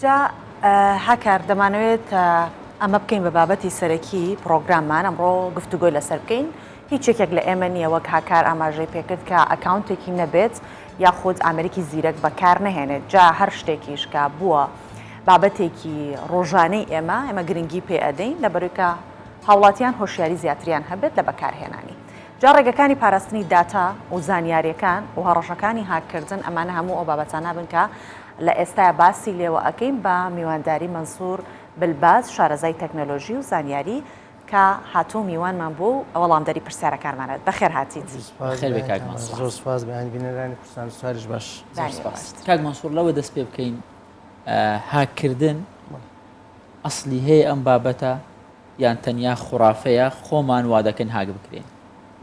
جا هاکار دەمانەوێت ئەمە بکەین بە بابەتی سەرەکی پرۆگراممان ئەمڕۆ گفتوگۆی لەسەر بکەین هیچ یەکێک لە ئێمە نییە وەک هاکار ئاماژەی پێکرد کە ئەکاونتێکی نەبێت یاخود ئامریکی زیرەک بەکار نەهێنێت جا هەر شتێکیش کە بووە بابەتێکی ڕۆژانەی ئێمە ئێمە گرنگی پێ ئەدەین لە بەرویکە هاوڵاتیان هۆشیاری زیاتریان هەبێت لە بەکارهێنانی جا ڕێگەکانی پاراستنی داتا و زانیاریەکان و هەڕەشەکانی هاککردن ئەمانە هەموو ئەو بابەتانە بن کە لە ئێستایا باسی لێوە ئەکەین بە میوانداری مەنسور بلباز شارەزای تەکنەلۆژی و زانیاری کە هاتوو میوانمان بووە و وەڵامدەری پرسیارەکانمان ئەێت بەخێر هاتیت. بەخێربێی کاک مەنسور. زۆر سوپاس بیانی بینەرانی کوردستان ستاریش باش. زۆر سوپاس. کاک مەنسور لەوە دەست پێ بکەین هاک کردن ئەسلی هەیە ئەم بابەتە یان تەنیا خورافەیە خۆمان وا دەکەین هاک بکرێین؟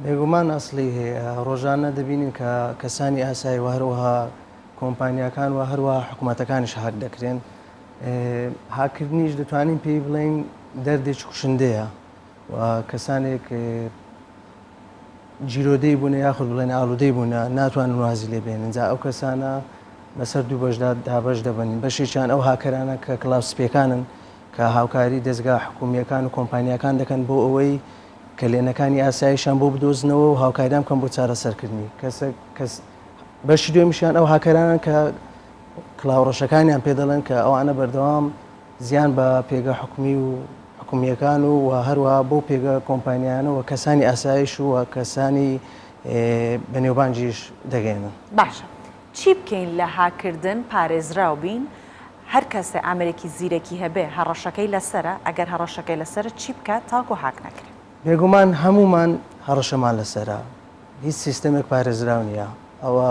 بێگومان ئەسلی هەیە ڕۆژانە دەبینین کە کەسانی ئاسایی و هەروەها کۆمپانیاکان و هەروەها حکومەتەکانیش هاک دەکرێن هاکردنیش دەتوانین پێی بڵین دەردێکی کوشندەیە و کەسانێک جیرۆدەی بوونە یاخود بڵێن ئالودەی بوونە ناتوان وازی لێ بێنن جا ئەو کەسانە بەسەر دوو بەشدا دابش دەبن بەشێکیان ئەو هاکەرانە کە کلاسپەکانن کە هاوکاری دەستگا حکومیەکان و کۆمپانیەکان دەکەن بۆ ئەوەی کەلێنەکانی ئاسایشان بۆ بدۆزنەوە و هاوکاریان کەم بۆ چارەسەرکردنی کەسە کەس بەشی دوێمیشیان ئەو هاکەرانن کە کلااوڕەشەکانیان پێ دەڵێن کە ئەوانە بەردەوام زیان بە پێگە حکومی و حکومیەکان و و هەروە بۆ پێگە کۆمپانیانەوە کەسانی ئاسایش و کەسانی بەنێوبانجیش دەگەێنن باشە چی بکەین لە هاکردن پارێزراو بین هەر کەسێ ئامرێکی زیرەکی هەبێ هەڕەشەکەی لەسرە ئەگەر هەڕەشەکەی لەسرە چی بکات تاکو هاک نەکرێت بێگومان هەمومان هەڕەشەمان لەسرە هیچ سیستەمێک پارێزراو نییە. ئەوە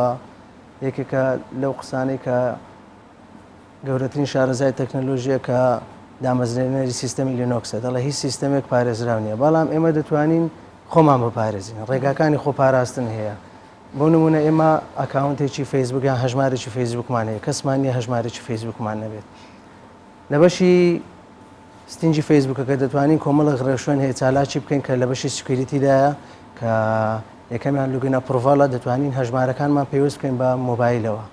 یەکێکە لەو قسانەی کە گەورەترین شارەزای تەکنەلۆژیە کە دامەزرێنەری سیستەمی لینۆکسە دەڵێ هیچ سیستەمێک پارێزراو نییە بەڵام ئێمە دەتوانین خۆمان بپارێزین ڕێگاکانی خۆ پاراستن هەیە بۆ نمونە ئێمە ئەکاونتێکی فەیسبوک یان هەژمارێکی فەیسبوکمان هەیە کەسمان نیە هەژمارێکی فەیسبوکمان نەبێت لە بەشی ستینجی فەیسبوکەکە دەتوانین کۆمەڵێک ڕێوشوێن هەیە چالاکی بکەین کە لە بەشی سکیوریتیدایە کە یەکەمیان لوگینە پڕڤاڵە دەتوانین هەژمارەکانمان پێویست بکەین بە مۆبایلەوە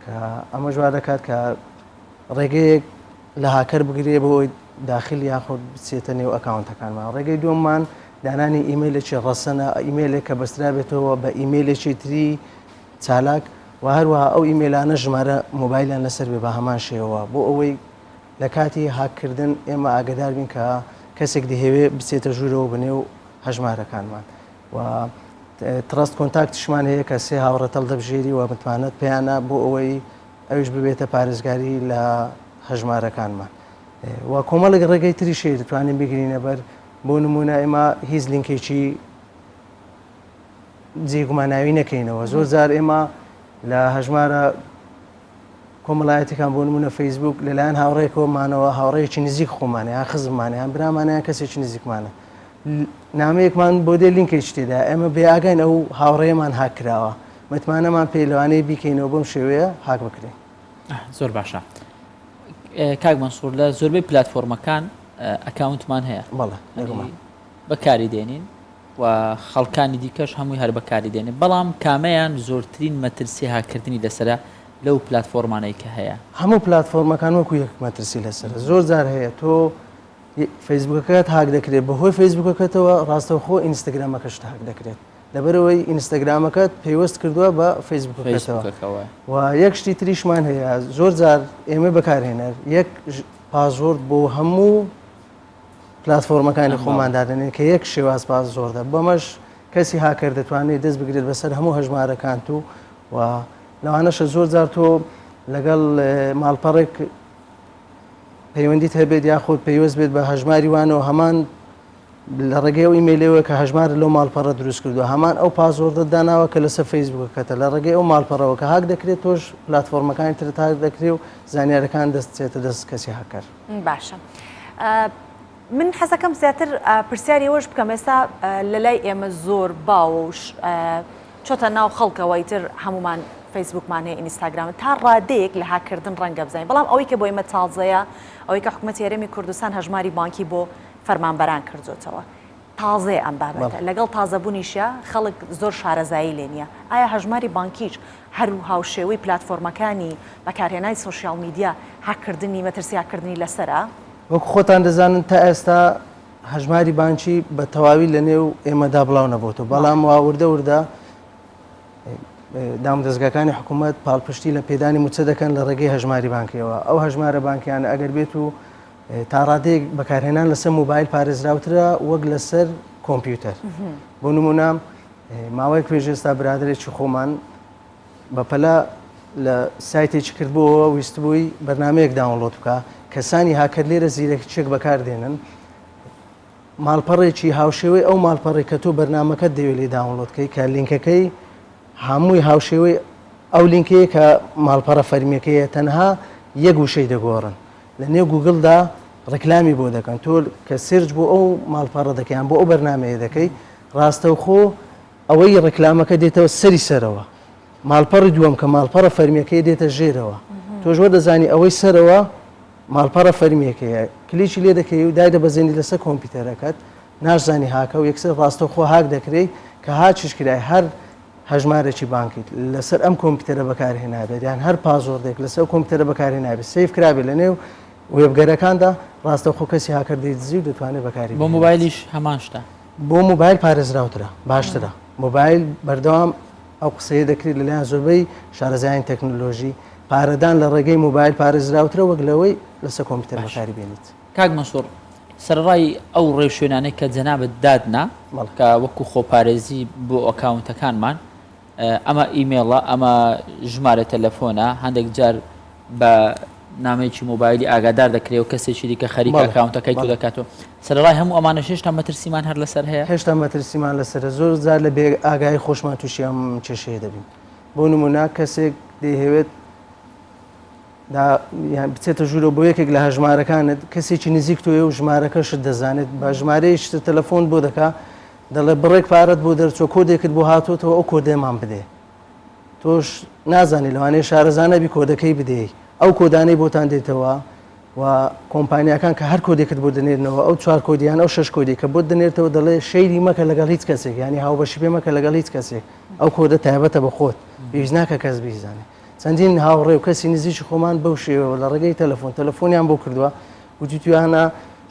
کە ئەمە جوار دەکات کە ڕێگەیەک لە هاکەر بگرێ بۆ ئەوی داخل یاخود بچێتە نێو ئەکاونتەکانمان ڕێگەی دووەممان دانانی ئیممەلێکی ڕەسەنە ئیممەلێک کە بەسترابێتەوە بە ئیممەلێکی تری چالاک و هەروەها ئەو ئیممەلانە ژمارە مۆبایلیان لەسەر بێ بە هەمان شێوە بۆ ئەوەی لە کاتی هاک کردن ئێمە ئاگەدار بین کە کەسێک دەیهەوێ بچێتە ژوورەوە بە نێو هەژمارەکانمان و تڕەست کۆنتاکتشمان هەیە کە سێ هاوڕێت هەڵدەبژێری و متمانەت پێیانە بۆ ئەوەی ئەویش ببێتە پارێزگاری لە هەژمارەکانمان و کۆمەڵێک ڕێگەی تری شێ دەتوانین بگرینە بەر بۆ نمونە ئێمە هیچ لینکێکی جێگوماناوی نەکەینەوە زۆر جار ئێمە لە هەژمارە کۆمەڵایەتیەکان بۆ نمونە فەیسبوک لەلایەن هاوڕێکەوە مانەوە هاوڕێکی نزیک خۆمانە یان خزممانە یان برامانە یان کەسێکی نزیکمانە نامەیەکمان بۆ دێ لینکێکی تێدا ئێمە بێ ئاگاین ئەو هاوڕێمان هاکراوە متمانەمان پێ لەوانەیە بیکەینەوە بەم شێوەیە هاک بکرێن زۆر باشە کاک مەسوور لە زۆربەی پلتفۆرمەکان ئەکاونتمان هەیە بەڵێ بەکاری دێنین و خەڵکانی دیکەش هەمووی هەر بەکاری دێنێ بەڵام کامەیان زۆرترین مەترسی هاککردنی لەسەرە لەو پلاتفۆرمانەی کە هەیە؟ هەموو پلاتفۆرمەکان وەکو یەک مەترسی لەسەرە زۆر جار هەیە تۆ فەیسبوکەکەت هاک دەکرێت بەهۆی فەیسبوکەکەتەوە ڕاستەوخۆ ئینستاگرامەکەشت هاک دەکرێت لەبەرەوەی ئینستاگرامەکەت پەیوەست کردووە بە فەیسبوکەکەتەوە فەیسبوکەکەوە و یەک شتی تریشمان هەیە زۆر جار ئێمە بەکارهێنەر یەک پاسۆرد بۆ هەموو پلاتفۆرمەکانی خۆمان دادەنێن کە یەک شێواز پاس زۆردە بەمەش کەسی هاکەر دەتوانێت دەست بگرێت بەسەر هەموو هەژمارەکانت و و لەوانەشە زۆر جار تۆ لەگەڵ ماڵپەڕێک پەیوەندیت هەبێت یاخود پەیوەست بێت بە هەژماری وانەوە هەمان لە ڕێگەی و ئیممەلەوە کە هەژمار لەو ماڵپەڕە دروست کردو هەمان ئەو پازۆردە داناوە کە لەسەر فەیسبووکەکەتە لە ڕێگەی ئەو ماڵپەڕەوە کە هاک دەکرێت تۆش پلتفۆرمەکانی ترتاک دەکرێت و زانیارەکان دەستێتە دەست کەسی هاکەر باشە من حەزەکەم زیاتر پرسیاری ئەوەش بکەم ئێستا لە لای ئێمە زۆر باوەش چۆتە ناو خەڵکەوەی تر هەمومان فەیسبوکمان هەیە ئینستاگرام تا ڕادەیەک لە هاکردن ڕەنگە بزانین بەڵام ئەوەی کە بۆ ئمە تازەیە ئەوەی کە حکوومەت یارەمی کوردستان هەژماری بانکی بۆ فەرمانبەران کردوتەوە تازەیە ئەم بابەتە، لەگەڵ تازەبوونیشیا خەڵک زۆر شارەزایی لێ نییە. ئایا هەژماری بانکیش هەر هاوشێوەی پلاتفۆرمەکانی بەکارهێنانی سۆشیاڵ میدیا هاککردنی، مەترسی هاککردنی لەسەرە؟ وەکو خۆتان دەزانن تا ئێستا هەژماری بانکی بە تەواوی لە نێو ئێمەدا بڵاو نەبۆتەوە، بەڵام وا وردە وردە دامودەزگاکانی حکوومەت پاڵپشتی لە پێدانی مووچە دەکەن لە ڕێگەی هەژماری بانکییەوە. ئەو هەژمارە بانکییانە ئەگەر بێتوو تا ڕادەیەک بەکارهێنان لەسەر موبایل پارێزراوترە وەک لەسەر کۆمپیوتەر بۆ نمونە ماوەی کوێژێستا برادێکی خۆمان بەپەلا لە سایتێکی کردبووەوە ویستبووی بەرنمەیەک داونلۆت بکە کەسانی هاکەر لێرە زیرەکچێک بەکاردێنن ماڵپەڕێکی هاوشێوەی ئەو ماڵپەڕی کە تۆ بەرنمەکە دەوێت لێ داونلۆتکەی کە لینکەکەی هەمووی هاوشێوەی ئەو لینکەیە کە ماڵپەڕە فەرمیەکەیە تەنها یەک وشەی دەگۆڕن لە نێو گوگل دا ڕیکلامی بۆ دەکەن تۆ کە سێرچ بۆ ئەو ماڵپەڕە دەکەی یان بۆ ئەو بەرنامەیە دەکەی ڕاستەوخۆ ئەوەی ڕیکلامەکە دێتەوە سەری سەرەوە ماڵپەڕی دووەم کە ماڵپەڕە فەرمیەکەی دێتە ژێرەوە تۆش وە دەزانی ئەوەی سەرەوە ماڵپەڕە فەرمیەکەیە کلیکی لێ دەکەی و دای دەبەزێنی لەسەر کۆمپیوتەرەکەت ناشزانی هاکە و یەکسەر ڕاستەوخۆ هاک دەکرێی کە هاچیش کرای هەر هەژمارێکی بانکیت لەسەر ئەم کۆمپیوتەرە بەکارهێنابێت یان هەر پازۆردێک لەسەر ئەو کۆمپیوتەرە بەکارهێنابێت سیف کرابێت لە نێو وێبگەرەکاندا ڕاستەوخۆ کەسی هاکەر دەیدزی و دەتوانێت بەکاری بۆ بهێنێت. موبایلیش هەمان شتە بۆ موبایل پارێزراوترە باشترە موبایل بەردەوام ئەو قسەیە دەکرێت لەلایەن زۆربەی شارەزایانی تەکنۆلۆژی پارەدان لە ڕێگەی موبایل پارێزراوترە وەک لەوەی لەسەر کۆمپیوتەر بەکاری بێنیت کاک مەنسوور سەرەڕای ئەو ڕێوشوێنانەی کە جەنابت دادنا کە وەکو خۆپارێزی بۆ ئەکاونتەکانمان ئەمە ئیمێڵە ئەمە ژمارە تەلەفۆنە هەندێک جار بە نامەیەکی مۆبایلی ئاگادار دەکرێت و کەسێکی دیکە خەریکە ئەکاونتەکەی تو دەکاتەوە سەرڕای هەموو ئەمانە هێشتا مەترسیمان هەر لەسەر هەیە هێشتا مەترسیمان لەسەر زۆر جار لە بێ ئاگای خۆشمان تووشیان کێشەیە دەبین بۆ نمونە کەسێک دەیهەوێت دا یان بچێتە ژوورەوە بۆ یەکێک لە هەژمارەکانت کەسێکی نزیک تۆیە و ژمارەکەشت دەزانێت بە ژمارەی شتە تەلەفۆن بۆ دەکا دەڵێ بڕێک پارەت بۆ دەرچۆ کۆدێکت بۆ هاتوتەوە ئەو کۆدێمان بدێ تۆش نازانی لەوانەیە شارەزانەبی کۆدەکەی بدەی ئەو کۆدانەی بۆتان دێتەوە و کۆمپانیەکان کە هەر کۆدێکت بۆ دەنێرنەوە ئەو چوار کۆدیان ئەو شش کۆدی کە بۆ دەنێرتەوە دەڵێ شەیری مەکە لەگەڵ هیچ کەسێک ینی هاوبەشی پێ مەکە لەگەڵ هیچ کەسێک ئەو کۆدە تایبەتە بە خۆت پێویست ناکە کەس بیزانێت چەندین هاوڕێ و کەسی نزیکی خۆمان بەو شێوەوە لە ڕێگەی تەلەفۆن تەلەفۆنیان بۆ کردووە وتی تویانە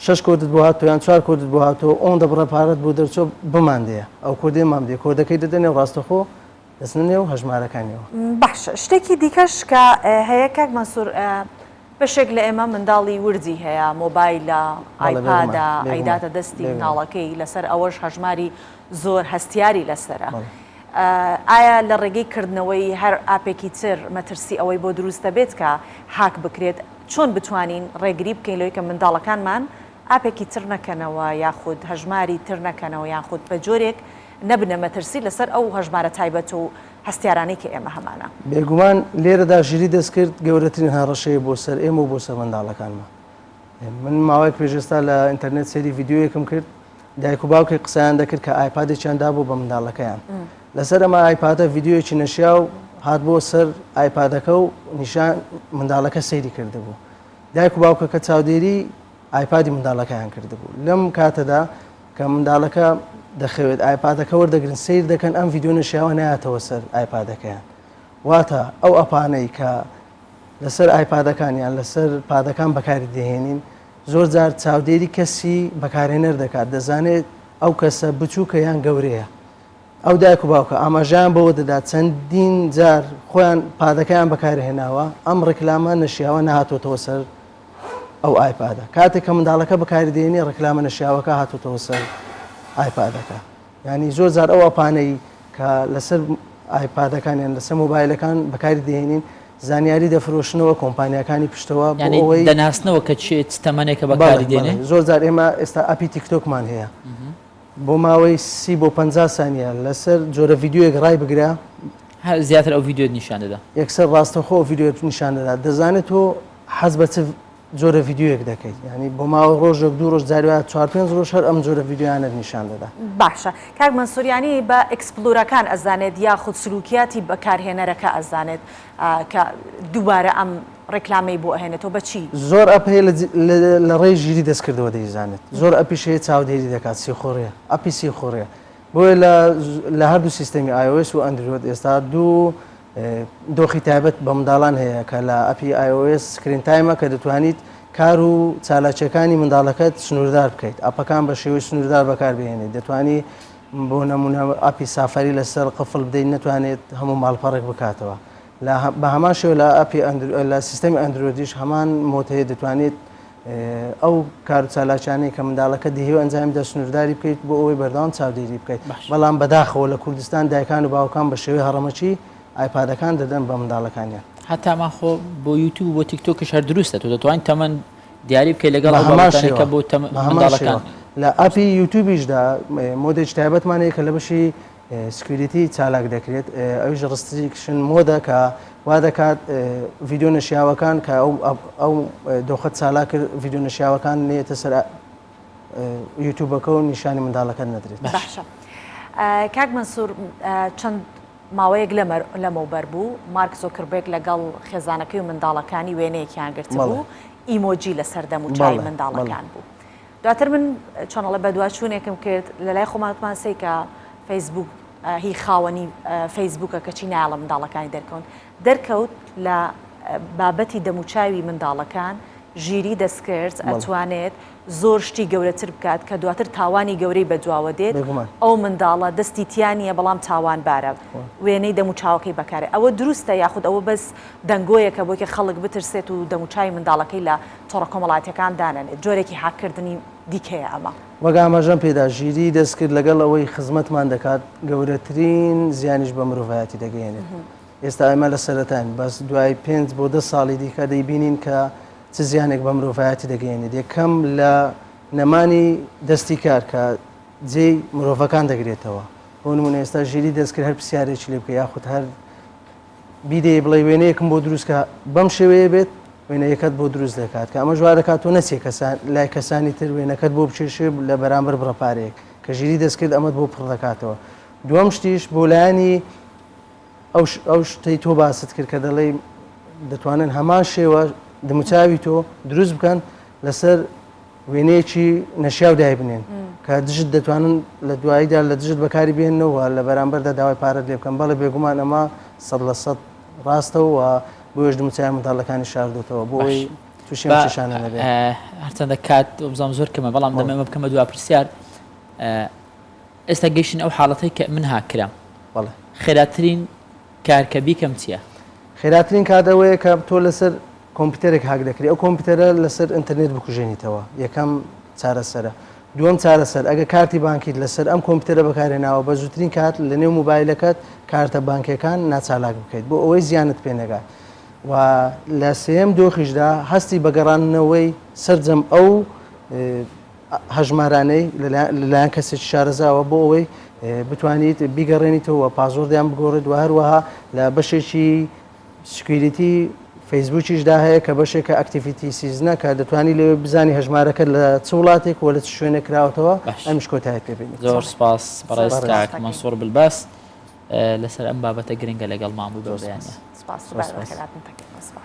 شش کۆدت بۆ هاتۆ یان چوار کۆدت بۆ هاتۆ ئەوەن دەبڕە پارەت بۆ دەرچۆ بماندەیە ئەو کۆدێ مام دێ کۆدەکەی دەدەنێ و ڕاستەخۆ دەچنە نێو هەژمارەکانیەوە. باشە شتێکی دیکەش کە هەیە کاک مەنسوور بەشێک لە ئێمە منداڵی وردی هەیە، مۆبایلە، ئایپادە، ئەیداتە دەستی منداڵەکەی، لەسەر ئەوەش هەژماری زۆر هەستیاری لەسەرە. ئایا لە ڕێگەی کردنەوەی هەر ئاپێکی تر مەترسی ئەوەی بۆ دروست دەبێت کە هاک بکرێت؟ چۆن بتوانین ڕێگری بکەین لەوەی کە منداڵەکانمان ئاپێکی تر نەکەنەوە یاخود هەژماری تر نەکەنەوە یاخود بە جۆرێک نەبنە مەترسی لەسەر ئەو هەژمارە تایبەت و هەستیارانەی کە ئێمە هەمانە. بێگومان لێرەدا ژیری دەستکرد گەورەترین هەڕەشەیە بۆ سەر ئێمە و بۆ سەر منداڵەکانمان. من ماوەیەک پێش ئێستا لە ئینتەرنێت سەیری ڤیدیۆیەکم کرد، دایک و باوکێک قسەیان دەکرد کە ئایپادێکیان دابوو بە منداڵەکەیان. لەسەر ئەم ئایپادە ڤیدیۆیەکی نەشیاو هاتبووە سەر ئایپادەکە و نیشان منداڵەکە سەیری کردبوو. دایک و باوکەکە چاودێری. ئایپادی منداڵەکەیان کردبوو لەم کاتەدا کە منداڵەکە دەخەوێت ئایپادەکە وەردەگرن سیر دەکەن ئەم ڤیددیو نشیاوە ناتەوە سەر ئایپادەکەیان واتە ئەو ئەپانەی کە لەسەر ئایپادەکانیان لەسەر پادەکان بەکاری دەهێنین زۆر جار چاودێری کەسی بەکارێنەر دەکات دەزانێت ئەو کەسە بچووکە یان گەورەیە ئەو دایک و باوکە ئاماژیان بەوە دەدات چەندین جار خۆیان پادەکەیان بەکارهێناوە ئەم ڕێکلامە نەشیاوە نهاتۆتەوە سەر ئەو ئایپادە کاتێک کە منداڵەکە بەکاری دێنێ ڕکلامە نەشیاوەکە هاتوتەوە سەر ئایپادەکە ینی زۆر زار ئەو ئەپانەی کە لەسەر ئایپادەکانیان لەسەر مۆبایلەکان بەکاری دێنین زانیاری دەفرۆشنەوە کۆمپانیەکانی پشتەوە ئەوەی دەناسنەوە کە چێت تەمەنێکە بەکاری دێنێ زۆر زار ئێمە ئێستا ئەپی تیکتۆکمان هەیە بۆ ماوەی سی بۆ پ سانیە لەسەر جۆرە یددیوەک ڕای بگرە زیاتر ئەو یددیوێت نیشان دەدا یەکسەر ڕاستەخۆ یددیوێت نیشان دەدا دەزانێت تۆ حەز بە چ جۆرە ڤیددیوەک دەکەیت ینی بۆ ماوە ڕۆژێک دوو ڕۆژ جاروە چوار پێنج ڕۆژ هەر ئەم جۆرە ڤیددیویانە نیشان دەدا باشە کاک مەسوریانی بە ئەکسپلورەکان ئەزانێت یا خود سلوکیاتی بەکارهێنەرەکە ئەزانێت کە دووبارە ئەم ڕێکلامی بۆ ئەهێنێتەوە بەچی زۆر ئەپەیە لە ڕێی ژیری دەستکردەوە دەیزانێت زۆر ئەپیشەیە چاودێری دەکات سیخۆڕێ ئەپی سیخۆڕێ بۆیە لە هەردوو سیستەمی ئایۆس و ئەندرۆت ئێستا دوو دۆخی تایبەت بە منداڵان هەیە کە لە ئەپی iOS سکرین تایمە کە دەتوانیت کار و چالاکیەکانی منداڵەکەت سنووردار بکەیت ئەپەکان بە شێوەی سنووردار بەکاربهێنیت دەتوانی بۆ نمونە ئەپی سافاری لەسەر قفل بدەیت نەتوانێت هەموو ماڵپەڕێک بکاتەوە بە هەمان شێوە لە ئەپی لە سیستەمی ئەندرۆدیش هەمان مۆتەیە دەتوانێت ئەو کارو چالاکیانەی کە منداڵەکە دهیوێ ئەنجامی بدات سنوورداری بکەیت بۆ ئەوەی بەردەوام چاودێری بکەیت بەڵام بەداخەوە لە کوردستان دایکان و باوکان بە شێوەی هەڕەمەکی ئایپادەکان دەدەن بە منداڵەکانیان هەتامان خۆ بۆ یوتوب بۆ تیکتۆکش هەر دروستە تۆ دەتوانین تەمەند دیاری بکەیت لەگەڵ هەماشەکە بۆ منداڵەکان لە ئەپی یوتوبیشدا مۆدێک تایبەتمانەیە کە لە بەشی سکیوریتی چالاک دەکرێت ئەویش ڕستریکشن مۆدە کە وا دەکات ڤیددیو نەشیاوەکان کە ئەو دۆخە چالا کرد ڤیددیو نەشیاوەکان نێتە سەر یوتوبەکە و نیشانی منداڵەکە نەدرێت باشە کاک منسوور چەند ماوەیەک لەمە بەر بوو مارک زۆکربێک لەگەڵ خێزانەکەی و منداڵەکانی وێنەیەکیان گرت بوو ئیمۆجی لە سەردەم و چای منداڵەکان بوو. دواتر من چەنەڵە بەدواچوونێکم کرد لە لای خۆمان وتمان سەیکە فەیسبوک هی خاوەنی فەیسبوکە کەچی نایڵە منداڵەکانی دەرکەون دەرکەوت لە بابەتی دەموچاوی منداڵەکان ژیری دەستکرد ئەتوانێت زۆر شتی گەورەتر بکات کە دواتر تاوانی گەورەی بەدواوە دێت ئەو منداڵە دەستی تیانە بەڵام تاوان بارە وێنەی دەموچاوەکەی بەکارێت ئەوە دروستە یاخود ئەوە بەس دەنگۆیەکە بۆکە خەڵک بترسێت و دەموچوی منداڵەکەی لە تۆڕە کۆمەڵاتیەکان دانەنێت، جۆرێکی هاککردنی دیکەیە ئەمە. وەک ئاماژەم پێدا ژیری دەستکرد لەگەڵ ئەوەی خزمەتمان دەکات گەورەترین زیانیش بە مرۆڤایەتی دەگەیەنێت، ئێستا ئێمە لە سەرەتاین بەس دوای پێنج بۆ دە ساڵی دیکە دەیبینین کە چ زیانێک بە مرۆڤایەتی دەگەیەنێت، یەکەم لە نەمانی دەستی کار کە جێی مرۆڤەکان دەگرێتەوە، بۆ نموونە ئێستا ژیری دەستکرد هەر پرسیارێکی لێ بکەی یاخود هەر بیدەیێ بڵێی وێنەیەکم بۆ دروست کە بەم شێوەیە بێت وێنەیەکەت بۆ دروست دەکات کە ئەمەش وا دەکات تۆ نەچێ کەسان لای کەسانی تر وێنەکەت بۆ بکێشێ لە بەرامبەر بڕە پارەیەک کە ژیری دەست کرد ئەمەت بۆ پڕ دەکاتەوە دووەم شتیش بۆ لایەنی ئەو شتەی تۆ باست کرد کە دەڵێی دەتوانن هەمان شێوە دموچاوی تۆ دروست بکەن لەسەر وێنەیەکی نەشیاو دایبنێن کە دژت دەتوانن لە دواییدا لە دژت بەکاری بێننەوە لە بەرامبەردا داوای پارەت لێ بکەن بەڵێ بێگومان ئەمە سەد لە سەد ڕاستەوە بۆیش دموچای منداڵەکانی شاردۆتەوە بۆی تووشیان چشانە نەبێ هەرچەندە کات بزانام زۆر کەمە بەڵام دەمەمە بکەمە دوا پرسیار ئێستا گەشتن ئەو حاڵەتی کە من هاکرام خێراترین کار کە بیکەم چیە؟ خێراترین کات ئەوەیە کە تۆ لەسەر کۆمپیوتەرێک هاک دەکری ئەو کۆمپیوتەرە لەسەر ئینتەرنێت بکوژێنیتەوە یەکەم چارەسەرە دووەم چارەسەر ئەگە کارتی بانکیت لەسەر ئەم کۆمپیوتەرە بەکارێناوە بە زووترین کات لە نێو موبایلەکەت کارتە بانکیەکان ناچالاک بکەیت بۆ ئەوەی زیانت پێ نەگات و لە سێم دۆخیشدا هەستی بە گەڕانەوەی سەرجەم ئەو هەژمارانەی لەلایەن کەسێکی شارەزاوە بۆ ئەوەی بتوانیت بیگەڕێنیتەوە و پاسۆردیان بگۆڕێت و هەروەها لە بەشێکی سکویریتی فەیسبووکیشدا هەیە کە بەشێکە ئەکتیفیتی سیزنە کە دەتوانی لێ بزانی هەژمارەکە لە چ وڵاتێک و لە چ شوێنێک کراوەتەوە باش. ئەمیش کۆتایت پێ بێنیت زۆر سپاس بەڕێز سپاس کاک کاکەی. مەنسوور بلبەست اه، لەسەر ئەم بابەتە گرنگە لەگەڵمان بووی بەم زۆر بەیانە سپاس سپاس سپاس و بەخێراتنتەکەم سپاس